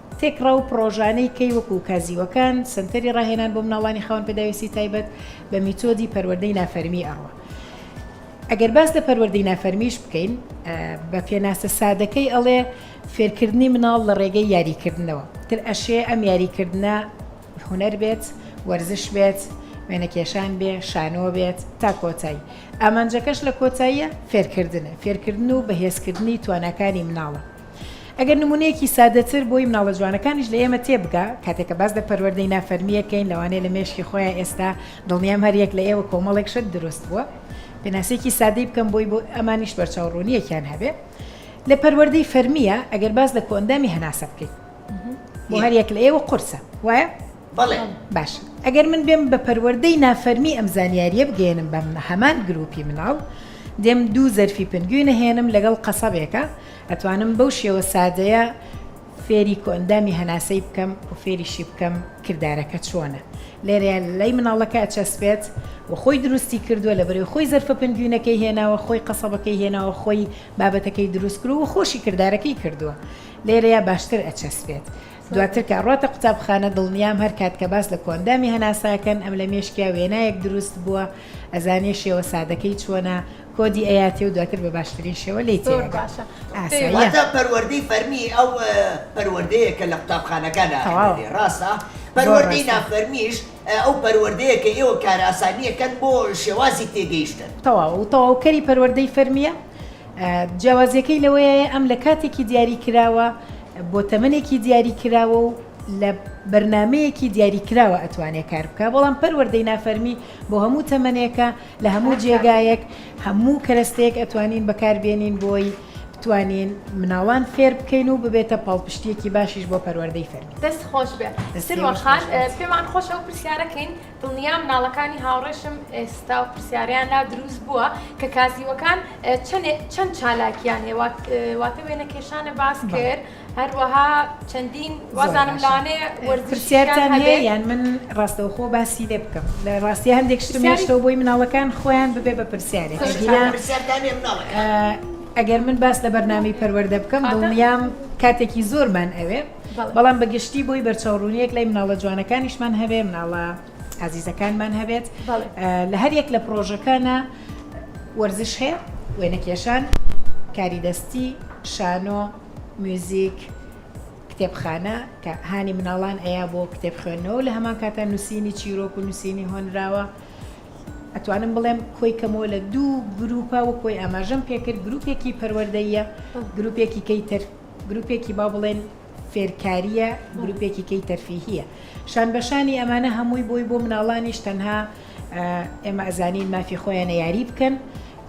تێکڕا و پڕۆژانەی کەی وەکوو کازیوەکان، سەنتەری ڕاهێنان بۆ مناڵانی خاوەن پێداویستی تایبەت، بە میتۆدی پەروەردەی نافەرمی ئەڕوا. ئەگەر باس لە پەروەردەی نافەرمیش بکەین، بە پێناسە سادەکەی ئەڵێ فێرکردنی مناڵ لە ڕێگەی یاریکردنەوە. تر ئەشێ ئەم یاریکردنە هونەر بێت، وەرزش بێت، وێنەکێشان بێ، شانۆ بێت تا کۆتایی. ئامانجەکەش لە کۆتاییە فێرکردنە. فێرکردن و بەهێزکردنی تواناکانی مناڵە. ئەگەر نموونەیەکی سادەتر بۆی مناڵە جوانەکانیش لە ئێمە تێبگا، کاتێک کە باس لە پەروەردەی نافەرمی ئەکەین، لەوانەیە لە مێشکی خۆیان ئێستا، دڵنیام هەر یەک لە ئێوە کۆمەڵێک شت دروست بووە. پێناسەیەکی سادەی بکەم بۆی بۆ ئەمانیش بەرچاو ڕوونییەکیان هەبێ. لە پەروەردەی فەرمییە ئەگەر باس لە کۆئەندامی هەناسە بکەین، بۆ هەر یەک لە ئێوە قورسە، وایە؟ بەڵێ. باشە. ئەگەر من بێم بە پەروەردەی نافەرمی ئەم زانیارییە بگەیەنم بە هەمان گرووپی مناڵ، دێم دوو زەرفی پنگوین ئەهێنم لەگەڵ قەسەبێکا، ئەتوانم بەو شێوە سادەیە فێری کۆئەندامی هەناسەی بکەم و فێریشی بکەم کردارەکە چۆنە لێرەیە لای مناڵەکە ئەچەسپێت و خۆی دروستی کردووە لە بەرەوەی خۆی زەرفە پنگوینەکەی هێناوە خۆی قەسەبەکەی هێناوە خۆی بابەتەکەی دروست کرد و خۆشی کردارەکەی کردووە لێرەیە باشتر ئەچەسپێت دواتر کە ڕاتە قوتابخانە دڵنیام هەر کات کە باس لە کۆندامی هەناساکەن ئەم لە مێشکیا وێنایەک دروست بووە ئەزانێ شێوە سادەکەی چۆنە کۆدی ئەیاتێ و دواتر بە باشترین شێوە لێی تێئەگا ئاساییە. واتە پەروەردەی فەرمی ئەو پەروەردەیە کە لە قوتابخانەکانا ئەخوێنرێ ڕاستە؟ پەروەردەی نافەرمیش ئەو پەروەردەیە کە ئێوە کارئاسانی ئەکەن بۆ شێوازی تێگەیشتن. تەواو و تەواوکەری پەروەردەی فەرمییە، جیاوازیەکەی لەوەیە ئەم لە کاتێکی دیاری کراوە بۆ تەمەنێکی دیاری کراوە و لە بەرنامەیەکی دیاری کراوە ئەتوانێ کار بکا بەڵام پەروەردەی نافەرمی بۆ هەموو تەمەنێکە، لە هەموو جێگایەک هەموو کەرەستەیەک ئەتوانین بەکار بێنین بۆی بتوانین مناڵان فێر بکەین و ببێتە پاڵپشتیەکی باشیش بۆ پەروەردەی فەرمی دەست خۆش بێ سروەخان پێمان خۆش ئەو پرسیارەکەین دڵنیا مناڵەکانی هاوڕێشم ئێستا و پرسیاریان لا دروست بووە کە کازیوەکان چەند چالاکیان هێوا واتە وێنە کێشانە باس کرد. هەروەها چەندین وازانم لانێ وەرزشیان هەیە یان من ڕاستەوخۆ باسی لێ بکەم لە ڕاستی هەندێک شتم هێشتەوە بۆی مناڵەکان خۆیان ببێ بە پرسیارێک ئەگەر من باس لە بەرنامی پەروەەردە بکەم دڵنیام کاتێکی زۆرمان ئەوێ بەڵام بەگشتی بۆی بەرچاوڕونیەک لای مناڵە جوانەکانیشمان هەبێ مناڵە ئازیزەکانمان هەبێت لە هەر یەک لە پرۆژەکانە وەرزش هەیە وێنەکێشان کاری دەستی شانۆ میوزیک، کتێبخانە، کە هانی مناڵان ئەیا بۆ کتێب خوێندنەوەو لە هەمان کاتا نووسینی چیرۆک و نووسینی هۆنراوە، ئەتوانم بڵێم کۆی کەمەوە لە دوو گرووپە وەک وەی ئاماژەم پێکرد گرووپێکی پەروەردەییە گرووپێکی کەی تر گرووپێکی با بڵێن فێرکارییە گرووپێکی کەی تەرفیهیە شان بەشانی ئەمانە هەمووی بۆی بۆ مناڵانیش تەنها ئێمە ئەزانین مافی خۆیانە یاری بکەن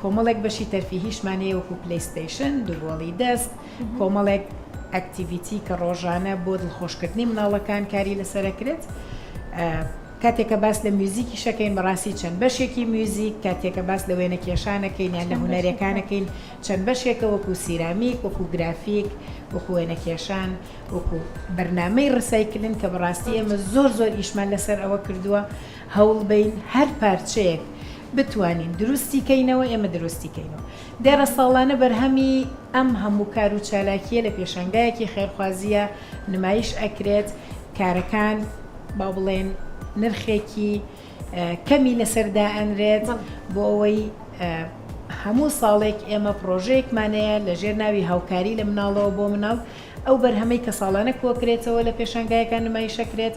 کۆمەڵێک بەشی تەرفیهیشمان هەیە وەکو پلیستەیشن دووبۆڵی دەست کۆمەڵێک ئەکتیڤیتی کە ڕۆژانە بۆ دڵخۆشکردنی مناڵەکان کاری لەسەرەکرێت کاتێکە باس لە میوزیکی شەکەین بەڕاستی چەند بەشێکی میوزیک کاتێکە باس لە وێنە کێشانەکەین یان لە هوەرەکانەکەین چەند بەشێکە وەکو سیرامیک وەکو گرافیک وەکو وێنە کێشان وەکو بەرنمەی ڕسایکلن کە بەڕاستی ئێمە زۆر زۆر ئیشمان لەسەر ئەوە کردووە هەوڵبەین هەر پارچەیەک بتوانین دروستی کەینەوە ئێمە دروستی کەینەوە دێڕە ساڵانە بەرهەمی ئەم هەموو کار و چالاکیە لە پێشانگایەکی خێرخوازیە نمایش ئەکرێت کارەکان با بڵێن نرخێکی کەمی لەسەر دائەنرێت بۆ ئەوەی هەموو ساڵێک ئێمە پرۆژەیەکمانەیە لە ژێر ناوی هاوکاری لە مناڵەوە بۆ مناڵ ئەو بەرهەمەی کە ساڵانە کۆکرێتەوە لە پێشانگایەکان نمایشەکرێت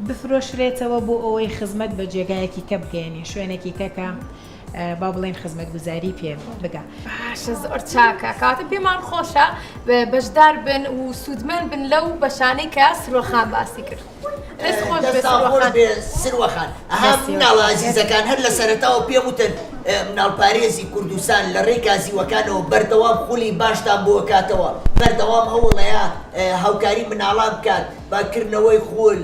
بفرۆشرێتەوە بۆ ئەوەی خزمەت بە جێگایەکی کە بگەیەنین شوێنێکی کە کە با بڵێن خزمەتگوزاری پێ بگا. باشە زۆر چاکە کاتە پێمان خۆشە بەشدار بن و سوودمەند بن لەو بەشانەی کە سروەخان باسی کرد. دەست خۆش بێت دەستان خۆش سروەخان. بێ سروەخان ئەها دەستی مناڵە وەستا. ئازیزەکان هەر لە سەرەتاوە پێم وتن ئە، مناڵپارێزی کوردستان لە ڕێی کازیوەکانەوە بەردەوام خولی باشتان بۆ ئەکاتەوە بەردەوام ئەوڵەیە ئە، هاوکاری مناڵان بکات. بە کردنەوەی خول،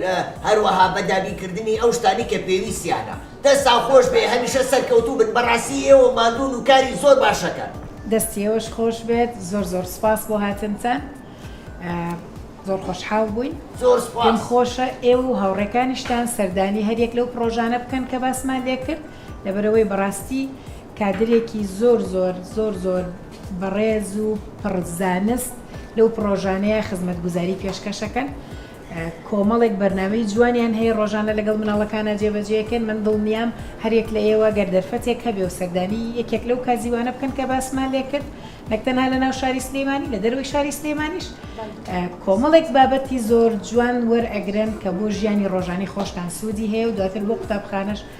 هەروەها بە دابینکردنی ئەو شتانەی کە پێویستیانە. دەستتان خۆش بێ هەمیشە سەرکەوتوو بن بەڕاستی ئێوە ماندوون و کاری زۆر باش ئەکەن. دەستی ئێوەش خۆش بێت زۆر زۆر سوپاس بۆ هاتنتان زۆر خۆشحاڵ بووین. زۆر سوپاس. پێم خۆشە ئێوە و هاوڕێکانیشتان سەردانی هەریەک لەو پڕۆژانە بکەن کە باسمان لێ کرد. لەبەرئەوەی بەڕاستی کادرێکی زۆر زۆر زۆر زۆر بەڕێز و پڕ زانست لەو پڕۆژانەیە خزمەتگوزاری پێشکەشەکەن کۆمەڵێک بەرنامەی جوانیان هەیە ڕۆژانە لەگەڵ مناڵەکانە جێبەجێکەن من دڵنیام هەرێک لە ئێوە گەر دەرفەتێک هەبێ و سەردانی یەکێک لەو کازیوانە بکەن کە باسمان لێ کرد نەک تەنها لە ناو شاری سلێمانی لە دەروی شاری سلێمانیش کۆمەڵێک بابەتی زۆر جوان وەرئەگرن کە بۆ ژیانی ڕۆژانی خۆشتان سوودی هەیە و دواتر بۆ قوتابخانەش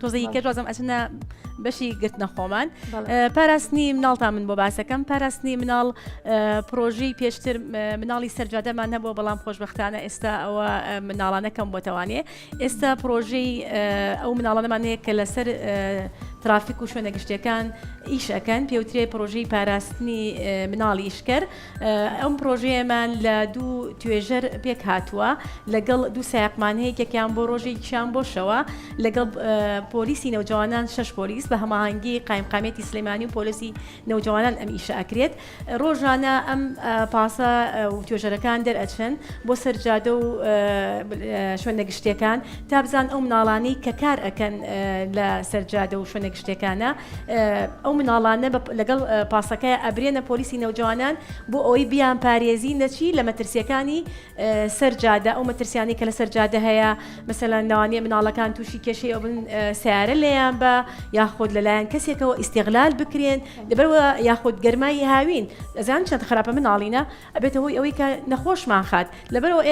تۆزە هی کەت وازم ئەچنە بەشی گرتنە خۆمان پاراستنی مناڵتا من بۆ باسەکەم پاراستنی مناڵ پرۆژی پێشتر مناڵی سەرجادەمان هەبووە بەڵام خۆشببختانە ئێستا ئەوە مناڵانەکەم بۆتەوانێ ئێستا پرۆژەی ئەو مناڵانەمان هەیە کە لەسەر ترافیک و شوێنە گشتەکان ئیشەکەن پێوترێ پرۆژی پاراستنی مناڵی ئیشکەر ئەم پرۆژەیەمان لە دوو توێژەر پێک هاتووە لەگەڵ دوو سایقمانەیە یەکێکیان بۆ ڕۆژێکیان بۆ شەوە لەگەڵ پۆلیسی نەوجوانان شش پۆلیس بە هەماهەنگی قایمقامێتی سلێمانی و پۆلیسی نەوجوانان ئەم ئیشە ئەکرێت ڕۆژانە ئەم پاسە و توێژەرەکان دەرئەچن بۆ سەرجادە و شوێنە گشتەکان تا بزان ئەو مناڵانی کە کار ئەکەن لە سەرجادە و شوێنە گشتەکانە ئەو مناڵانە لەگەڵ پاسەکەیا ئەبرێنە پۆلیسی نەوجەوانان بۆ ئەوەی بیان پارێزی نەچی لە مەترسیەکانی سەر جادە ئەو مەترسیانی کە لە سەر جادە هەیە مەسەلەن ناوانە مناڵەکان تووشی کێشەی ئەوبن سیارە لێیان بە یاخود لەلایەن کەسێکەوە ئیسیغلال بکرێن لەبەرەوە یاخود گەرمای هاوین ئەزان چەند خراپە مناڵینە ئەبێتە هۆی ئەوەی کە نەخۆشمان خات لەبەرئەوە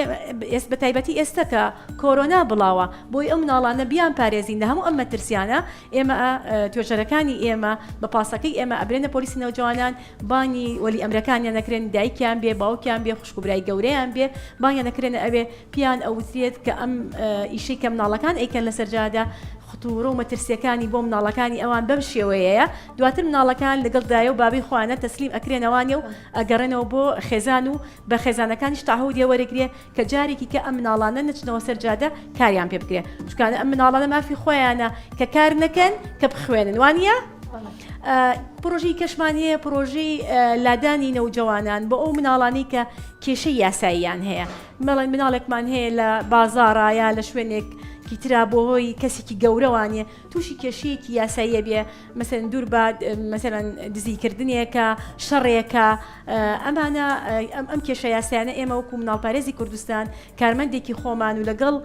ئێس بەتایبەتی ئێستە کە کۆرۆنا بڵاوە بۆی ئەو مناڵانە بیان پارێزین لە هەموو ئەم مەترسیانە ئێمە ئە توێژەرەکانی ئێمە بە پاسەکەی ئێمە ئەبرێنە پۆلیسی نەوجەوانان بانی وەلی ئەمرەکانیان نەکرێن دایکیان بێ باوکیان بێ خوشک و برای گەورەیان بێ بانیان نەکرێنە ئەوێ پیان ئەوترێت کە ئەم ئیشەی کە مناڵەکان ئەیکەن لە سەرجادە خطورە و مەترسیەکانی بۆ مناڵەکانی ئەوان بەم شێوەیەیە دواتر مناڵەکان لەگەڵ دایە و بابی خۆیانە تەسلیم ئەکرێنەوانێ و ئەگەڕێنەوە بۆ خێزان و بە خێزانەکانیش تەعهودیە وەرەگرێ کە جارێکی کە ئەم مناڵانە نەچنەوە سەر جادە کاریان پێ بکرێ چکانە ئەم مناڵانە مافی خۆیانە کە کار نەکەن کە بخوێنن وانە پرۆژی کەشمان هەیە پرۆژی لادانی نەوجەوانان بۆ ئەو مناڵانی کە کێشەی یاساییان هەیە مەڵێن مناڵێکمان هەیە لە بازارایە لە شوێنێک کیترا بۆ هۆی کەسێکی گەورەوانە توشی کێشەیەکی یاسایی ئەبێ مەسەلەن دوور بە مەسەلەن دزی کردنێکە شەڕێکە ئەمانە ئەم کێشە یاسایانە ئێمە وەکو مناڵپارێزی کوردستان کارمەندێکی خۆمان و لەگەڵ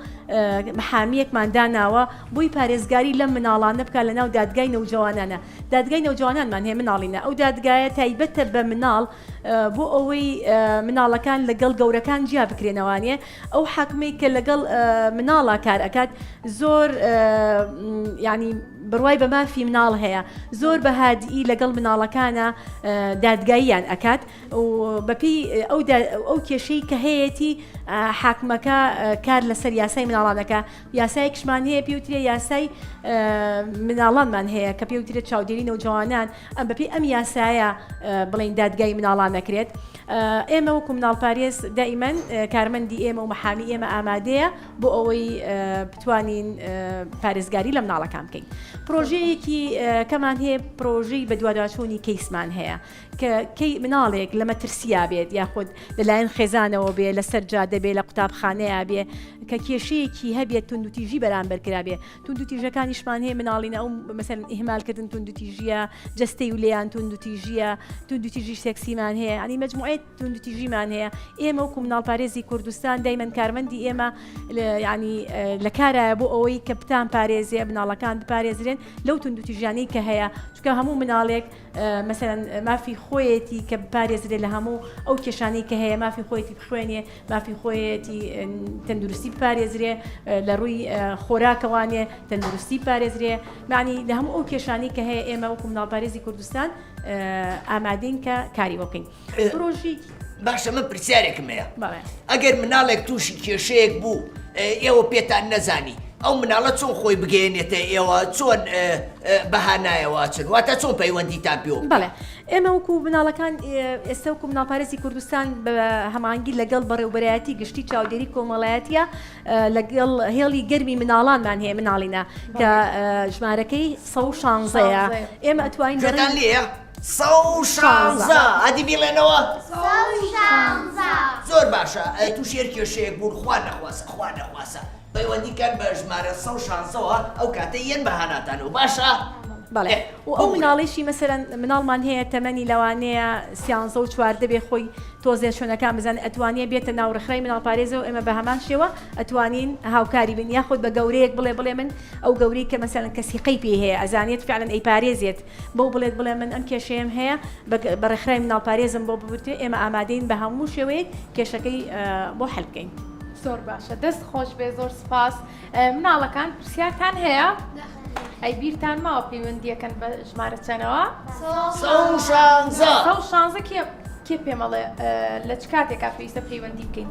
محامیەکمان داناوە بۆی پارێزگاری لەم مناڵانە بکە لە ناو دادگای نەوجوانانە دادگای نەوجوانانمان هەیە مناڵینە ئەو دادگایە تایبەتە بە مناڵ بۆ ئەوەی مناڵەکان لەگەڵ گەورەکان جیا بکرێنەوانێ ئەو حاکمەی کە لەگەڵ مناڵا کار ئەکات زۆر ینی بڕوای بە مافی مناڵ هەیە زۆر بە هادئی لەگەڵ مناڵەکانە دادگاییان ئەکات و بەپی ئەو کێشەی کە هەیەی حاکمەکە کار لەسەر یاسای مناڵانەکە یاسای کشمان هەیە پێوترێ یاسای مناڵانمان هەیە کە پێوترێت چاودێری نەوجوانان ئەم بەپێی ئەم یاسایە بڵین دادگای مناڵان نەکرێت ئێمە وەکو مناڵ پارێز دائیمەن کارمەندی ئێمە و محامی ئێمە ئامادەیە بۆ ئەوەی بتوانین پارێزگاری لە مناڵەکان بکەین پرۆژەیەکی کەمان هەیە پرۆژەی بە دوواداچوونی کەیسمان هەیە کە کەی مناڵێک لە مەترسیا بێت یاخود لەلایەن خێزانەوە بێ لەسەر جادە بێ لە قوتابخانەیە بێ کە کێشەیەکی هەبێت تونوتیژی بەرامبەر کرابێ توندوتیژەکانیشمان هەیە مناڵینە ئەو مەسەن ئیهمالکردن توندوتیژیە جستەی و لێیان توندوتیژیە توندوتیژی سێکسیمان هەیە ئەنی مجموعەت توندوتیژیمان هەیە ئێمە وکو مناڵپارێزی کوردستان دایمەن کارمەندی ئێمە ینی لە کارایە بۆ ئەوەی کە بتان پارێزیە مناڵەکان بپارێزرێن لەو توندوتیژیانەی کە هەیە چکە هەموو مناڵێک مەسەلەن مافی خۆیەتی کە بپارێزرێ لە هەموو ئەو کێشانەی کە هەیە مافی خۆیەتی بخوێنێ مافی خۆیەتی تەندروستی بپارێزرێ لە ڕووی خۆراکەوانێ تەندروستی پارێزرێ معنی لە هەموو ئەو کێشانی کە هەیە ئێمە وەکو مناڵپارێزی کوردستان ئامادەین کە کاری بکەین باشە من پرسیارێکم هەیە ئەگەر مناڵێک تووشی کێشەیەک بوو ئێوە پێتان نەزانی ئەو مناڵە چۆن خۆی بگەێنێتە ئێوە چۆن بەهانایەوەچن واتە چۆن پەیوەندی تا پێوە بڵێ ئێمە وکو مناڵەکان ئێستا وکو مناڵپارێزی کوردستان بە هەمانگیر لەگەڵ بەڕێوبەرایەتی گشتی چاودێری کۆمەڵایەتە لەگەڵ هێڵی گەرمی مناڵانمان هەیە مناڵینە کە ژمارەکەی 16 ئێمە ئەتوانین لێە سەو شانزە ئەدی بیڵێنەوە سەو شانزە زۆر باشە تووشی هەر کێشەیەک بوون خوا نەخواسە خوا نەخواسە پەیوەندی کەن بە ژمارە سە شانزەوە ئەو کاتە یەن بە هاناتان و باشە بەڵێ و ئەو مناڵیشی مەسەرەن مناڵمان هەیە تەمەنی لەوانەیە سیانزە و چواردە بێ خۆی تۆزێ شوێنەکان بزان ئەتوانیە بێتە ناو ڕخرای مناڵ پارێزە و ئێمە بە هەمان شێوە ئەتوانین هاوکاری بین یاخود بە گەورەیەک بڵێ بڵێ من ئەو گەوری کە مەسەرەن کەسیقەی پێ هەیە ئەزانێت فعلەن ئەی پارێزێت بەو بڵێت بڵێ من ئەم کێشەیەم هەیە بە ڕێکخراوی مناڵ پارێزم بۆ ببترێ ئێمە ئامادەین بە هەموو شێوەیەک کێشەکەی بۆ حل بکەین. زۆر باشە دەست خۆش بێ زۆر سپاس مناڵەکان پرسیارتان هەیە؟ ئەی بیرتان ماوە پەیوەندیەکەن بە ژمارە چەنەوە؟ شانزە کێ پێمەڵێ لە چ کاتێکا پێویستە پەیوەندی بکەین؟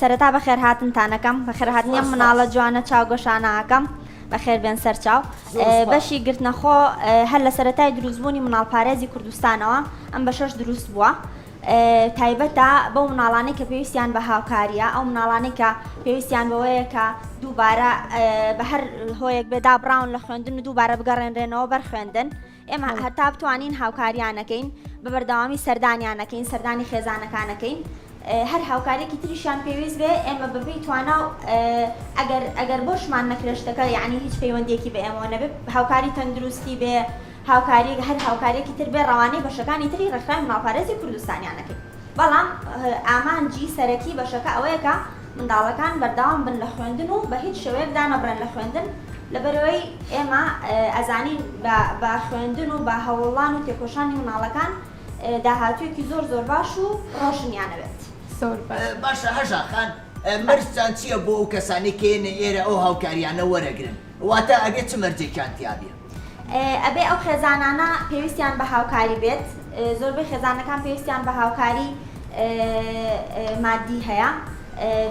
سەرەتا بەخێر هاتنتان ئەکەم بەخێر هاتنی ئەم مناڵە جوانە چاو گەشانە ئەکەم بەخێر بێن سەر چاو بەشی گرتنەخۆ هەر لە سەرەتای دروستبوونی مناڵ پارێزی کوردستانەوە ئەم بە شەش دروست بووە تایبەتە بەو مناڵانەی کە پێویستیان بە هاوکاریە ئەو مناڵانەی کە پێویستیان بەوەیە کە دووبارە بە هەر هۆیەک بێدا بڕاون لە خوێندن و دووبارە بگەڕێنرێنەوە بەر خوێندن ئێمە هەتا بتوانین هاوکاریانەکەین بە بەردەوامی سەردانیانەکەین سەردانی خێزانەکانەکەین هەر هاوکارێکی تریشیان پێویست بێ ئێمە بەپی توانا و ئەگەر ئەگەر بۆشمان نەکرێشتەکە یعنی هیچ پەیوەندێکی بە ئێمەوە نەبێت هاوکاری تەندروستی بێ هاوکاری هەر هاوکارێکی تر بێ ڕەوانەی بەشەکانی تری ڕێکخراوی ماڵپارێزی کوردستانیانەکەین بەڵام ئامانجی سەرەکی بەشەکە ئەوەیەکە منداڵەکان بەردەوام بن لە خوێندن و بە هیچ شێوەیەک دانەبڕێن لە خوێندن لەبەرئەوەی ئێمە ئەزانین بە خوێندن و بە هەوڵان و تێکۆشانی مناڵەکان داهاتوویەکی زۆر زۆر باش و ڕۆشنیان ئەوێت. باشە هەژا خان مەرجتان چیە بۆ ئەو کەسانەی کە یەنە ئێرە ئەو هاوکاریانە وەرەگرن؟ واتا ئەبێ چ مەرجێکیان تیابێ؟ ئەبێ ئەو خێزانانە پێویستیان بە هاوکاری بێت، زۆربەی خێزانەکان پێویستیان بە هاوکاری مادی هەیە،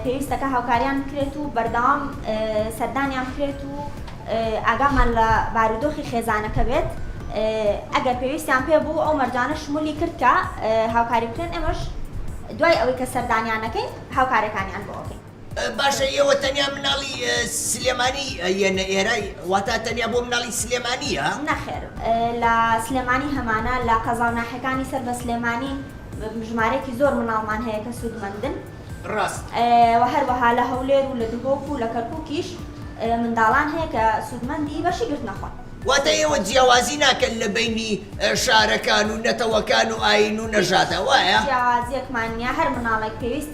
پێویستەکە هاوکاریان بکرێت و بەردەوام سەردانیان بکرێت و ئاگامان لە بارودۆخی خێزانەکە بێت، ئەگەر پێویستیان پێ بوو ئەو مەرجانە شمولی کرد کە هاوکاری بکرێن، ئێمەش دوای ئەوەی کە سەردانیان ئەکەین هاوکاریەکانیان بۆ ئەکەین. باشە ئێوە تەنیا مناڵی سلێمانی یە نە ئێرای واتا تەنیا بۆ مناڵی سلێمانی یە؟ نەخێر لە سلێمانی هەمانە لە قەزاو ناحێکانی سەر بە سلێمانی ژمارەیەکی زۆر مناڵمان هەیە کە سود مەندن ڕاست وە هەروەها لە هەولێر و لە دهۆک و لە کەرکوکیش منداڵان هەیە کە سود مەندی بەشی گرتنە خۆن. واتا ئێوە جیاوازی ناکەن لە بەینی شارەکان و نەتەوەکان و ئاین و نەژادە وایە؟ هیچ جیاوازیەکمان نیە هەر مناڵێک پێویست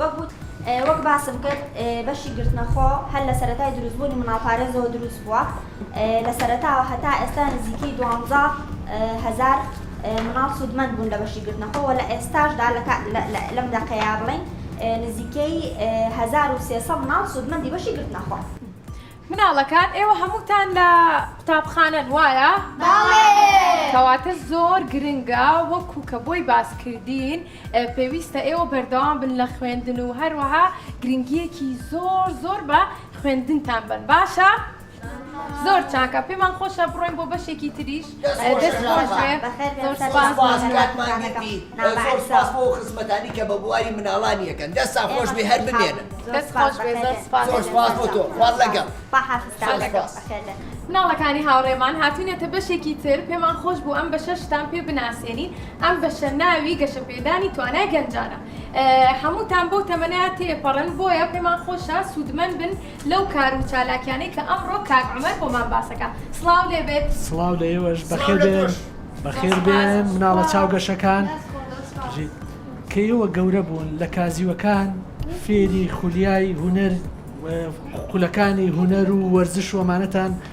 وەک وت، وەک باسم کرد بەشی گرتنەخۆ هەر لە سەرەتای دروستبوونی مناڵپارێزەوە دروست بووە، لە سەرەتاوە هەتا ئێستا نزیکەی دوانزە هەزار مناڵ سوودمەند بوون لە بەشی گرتنەخۆ و لە ئێستاشدا لەم دەقەیە بڵێین نزیکەی هەزار و سێ سەد مناڵ سوودمەندی بەشی گرتنەخۆن. مناڵەکان، ئێوە هەمووتان لە قوتابخانەن وایە؟ بەڵێ. کەواتە زۆر گرنگە وەکو کە بۆی باس کردین پێویستە ئێوە بەردەوام بن لە خوێندن و هەروەها گرنگیەکی زۆر زۆر بە خوێندنتان بن باشە؟ زۆر چاکە پێمان خۆشە بڕۆین بۆ بەشێکی تریش خزمەتانی کە بە بواری مناڵان یەکەن دەستا خۆش بێ هەر بمێنن مناڵەکانی هاوڕێمان هاتوینەتە بەشێکی تر پێمان خۆش بوو ئەم بەشەشتان پێ بناسیێنین ئەم بەشە ناوی گەشەپێدانی توانای گەنجانە. هەمووتان بەو تەمەنە تێپەڕن، بۆیە پێمان خۆشە سوودمەند بن لەو کار و چالاکیانەی کە ئەمڕۆ کاک عومەر بۆمان باسەکا. سڵاو لێ بێت. سڵاو لە ئێوەش. بەخێر بێن. بەخێر بێن مناڵە چاو گەشەکان. کە ئێوە گەورە بوون لە کازیوەکان فێری خولیای هونەر و خولەکانی هونەر و وەرزش و ئەمانەتان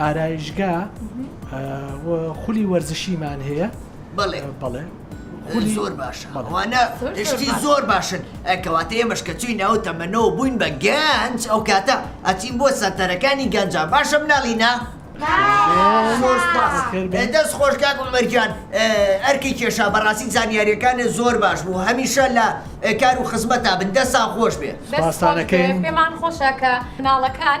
ئارایشگا و خولی وەرزشیمان هەیە بەڵێ بەڵێ خولی زۆر باشە بەڵێ. ئەوانە زۆر زۆر شتی باش. زۆر باشن ئە کەواتە ئێمەش کە چووینە ئەو تەمەنەوە بووین بە گەنج ئەو کاتە ئەچین بۆ سەنتەرەکانی گەنجان باشە مناڵینە زۆر سوپاس بەخێر بێن. ئە، دەست خۆش کاک عومەر گیان ئە، ئەرکی کێشا بەڕاستی زانیاریەکانت زۆر باش بوو هەمیشە لە ئە، کار و خزمەتا بن دەستان خۆش بێ. دەست خۆش بێ، پێمان خۆشە کە مناڵەکان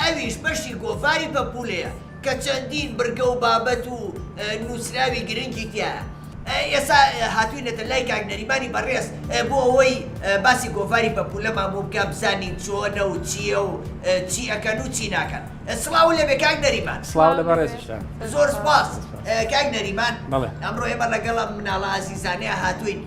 ئەویش بەشی گۆڤاری پەپوولەیە کە چەندین بڕگە و بابەت و نووسراوی گرنگی تیایە. ئێستا هاتووینەتە لای کاک نەریمانی بەڕێز بۆ ئەوەی باسی گۆڤاری پەپوولەمان بۆ بکا بزانین چۆنە و چییە و چی ئەکەن و چی ناکەن. سڵاو لێبێ کاک نەریمان. سڵاو لە بەڕێزیشتان. زۆر سوپاس کاک نەریمان. بەڵێ. ئەمڕۆ ئێمە ڵەگەڵ ئەم مناڵە ئازیزانەیا هاتووین.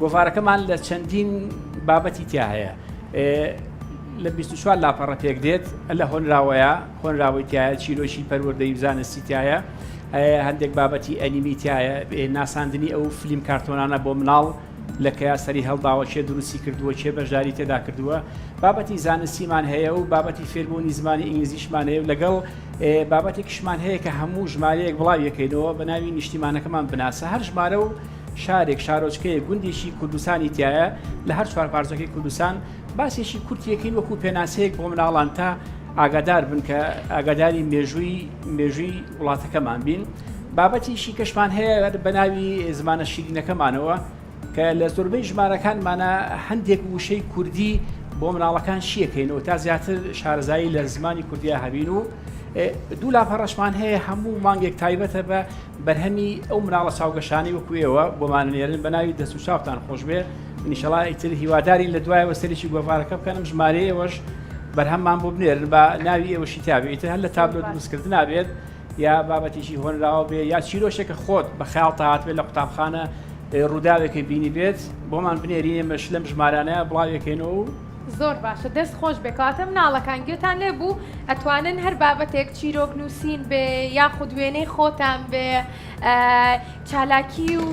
گۆڤارەکەمان لە چەندین بابەتی تیا هەیە لە 24 لاپەڕە پێک دێت لە هۆنراوەیە هۆنراوەی تایە چیرۆکی پەروەردەی زانستی تایە هەندێک بابەتی ئەنیمی تایە ناساندنی ئەو فلیم کارتۆنانە بۆ مناڵ لە کەیا سەری هەڵداوە چێ دروستی کردووە چێ بەشداری تێدا کردووە بابەتی زانستیمان هەیە و بابەتی فێربوونی زمانی ئینگلیزیشمان هەیە و لەگەڵ بابەتێکشمان هەیە کە هەموو ژمارەیەک بڵاویەکەینەوە بە ناوی نیشتیمانەکەمان بناسە هەر ژمارە و شارێک، شارۆچکەیەک، گوندێکی کوردستانی تیایە لە هەر چوار پارچەکەی کوردستان، باسێکی کورتی یەکەین وەکو پێناسەیەک بۆ مناڵان تا ئاگادار بن کە ئاگاداری مێژووی مێژووی وڵاتەکەمان بین. بابەتێکی کەشمان هەیە بە ناوی زمانە شیرینەکەمانەوە کە لە زۆربەی ژمارەکانمانە هەندێک وشەی کوردی بۆ مناڵەکان شیەکەینەوە تا زیاتر شارەزایی لە زمانی کوردیا هەبین و دوو لاپەڕەشمان هەیە هەموو مانگێک تایبەتە بە بەرهەمی ئەو مناڵە چاوگەشانەی وەکو ئێوە بۆمانە نێرن بەناوی دەست و چاوتان خۆشبێ منیشەڵا ئیتر هیوادارین لە دوایەوە سەرێکی گۆڤارەکە بکەنم ژمارە ئێوەش بەرهەممان بۆ بنێرن بە ناوی ئێوەشی تابێ ئیتر هەر لە تابلۆ دروستکرد نابێت یا بابەتێکی هۆنراوە بێ یا چیرۆشێکە خۆت بە خیاڵ تا هاتبێت لە قوتابخانە ڕووداوێکی بینی بێت بۆمان بنێری ئێمەش لەم ژمارانە بڵاوێکەینەوە و زۆر باشە دەست خۆش بێ کەواتە مناڵەکان گوێتان لێ بوو ئەتوانن هەر بابەتێک چیرۆک نووسین بێ یاخود وێنەی خۆتان بێ چالاکی و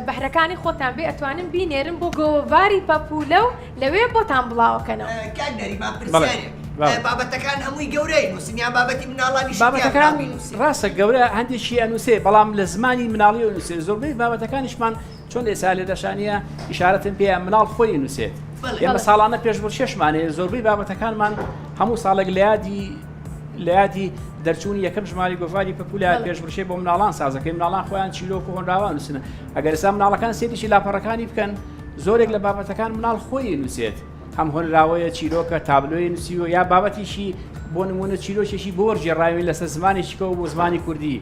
بەهرەکانی خۆتان بێ ئەتوانن بینێرن بۆ گۆڤاری پەپولە و لەوێ بۆتان بڵاوەکەنەوە کاک نەریمان پرسیارێک بەڵێ. بابەتەکان هەمووی گەورەی نووسین یان بابەتی مناڵانی بابەتەکان ڕاستە گەورە هەندێکی ئەنووسێ بەڵام لە زمانی مناڵی ئەنووسێ زۆربەی بابەتەکانیشمان چۆن ئێسا لێدەشا نییە ئیشارەتم پێیە مناڵ خۆی نووسێت ئێمە ساڵانە پێش بۆ شێشمانەیە زۆربەی بابەتەکانمان هەموو ساڵێک لە یادی لە یادی دەرچوون یەکەم ژماری گۆڤاری پپولە پێشبرشێ بۆ مناڵان سازەکەی مناڵان خۆیان چیرۆک و هۆنراوان نووسنە ئەگەر ئسا مناڵەکان سێریی لاپەڕەکانی بکەن زۆرێک لە بابەتەکان مناڵ خۆی نووسێت هەم هۆنراوەیە چیرۆکە تابلۆی نووسیوە یا بابەتیشی بۆ نمونە چیرۆکێکی بۆ وەرجێڕاوی لەسەر زمانێکیکەەوە بۆ زمانی کوردی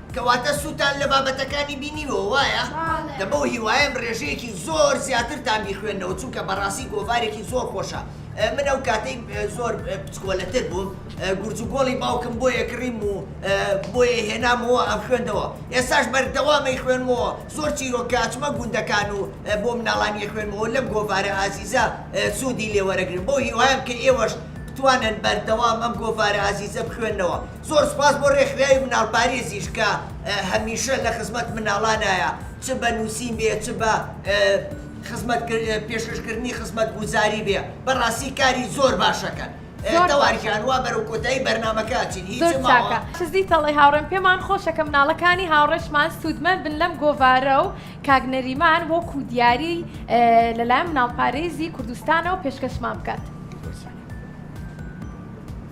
کەواتە سوودتان لە بابەتەکانی بینیوە وایە؟ دە بەو هیوایەم ڕێژەیەکی زۆر زیاترتان بیخوێننەوە چونکە بەڕاستی گۆڤارێکی زۆر خۆشە من ئەو کاتەی زۆر بچکۆلەتر بووم گورج و گۆڵی باوکم بۆیە کڕیم و بۆیە هێنامەوە ئەمخوێندەوە ئێستاش بەردەوام ئەیخوێنمەوە زۆر چیرۆک کە ئەچمە گوندەکان و بۆ مناڵان ئەیخوێنمەوە لەم گۆڤارە ئازیزە سوودی لێوەرەگرن بەو هیوایەم کە ئێوەش بتوانن بەردەوام ئەم گۆڤارە ئازیزە بخوێننەوە. زۆر سپاس بۆ رێکخراوی مناڵ پارێزیش کە هە میشە لە خزمەت مناڵانایە چ بە نوسین بێ چ بە خزمەت پێشکەش کردنی خزمەت گوزاری بێ بە راستی کاری زۆر باشەکەن تەوار گیان وا بەرەو کۆتایی بەرنامەکە ئەچین هیچ ماوە. زۆر چاکە حیزی تەڵەی هاوڕێم پێمان خۆشە کە مناڵەکانی هاوڕێشمان سودمەند بن لەم گۆڤارە و کاک نەریمان وەکو دیاری لە لایەن مناڵ پارێزی کوردستانەوە پێشکەشمان بکات.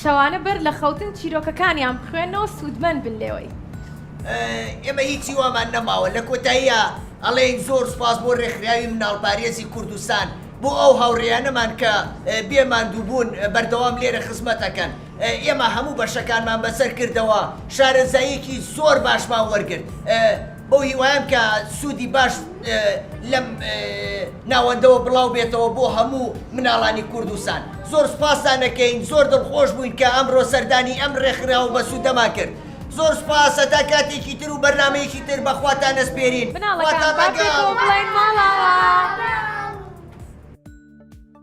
شەوانە بەر لە خەوتن چیرۆکەکانیان بخوێننەوە سوودمەند بن لێوەی. ئێمە هیچی وامان نەماوە. لە کۆتاییا ئەڵێین زۆر سوپاس بۆ رێکخراوی مناڵپارێزی کوردستان بۆ ئەو هاوڕێیانەمان کە بێ ماندووبوون بەردەوام لێرە خزمەتەکەن. ئێمە هەموو بەشەکانمان بەسەر کردەوە، شارەزاییەکی زۆر باشمان وەرگرت. بەو هیوایەم کە سوودی باش لەم ناوەندەوە بڵاو بێتەوە بۆ هەموو مناڵانی کوردستان. زۆر سوپاستان ئەکەین، زۆر دڵخۆش بووین کە ئەمڕۆ سەردانی ئەم ڕێکخراوە بەسوودەمان کرد. زۆر سوپاس، هەتا کاتێکی تر و بەرنامەیەکی تر بە خواتان ئەسپێرین. خواتان لەگەڵ.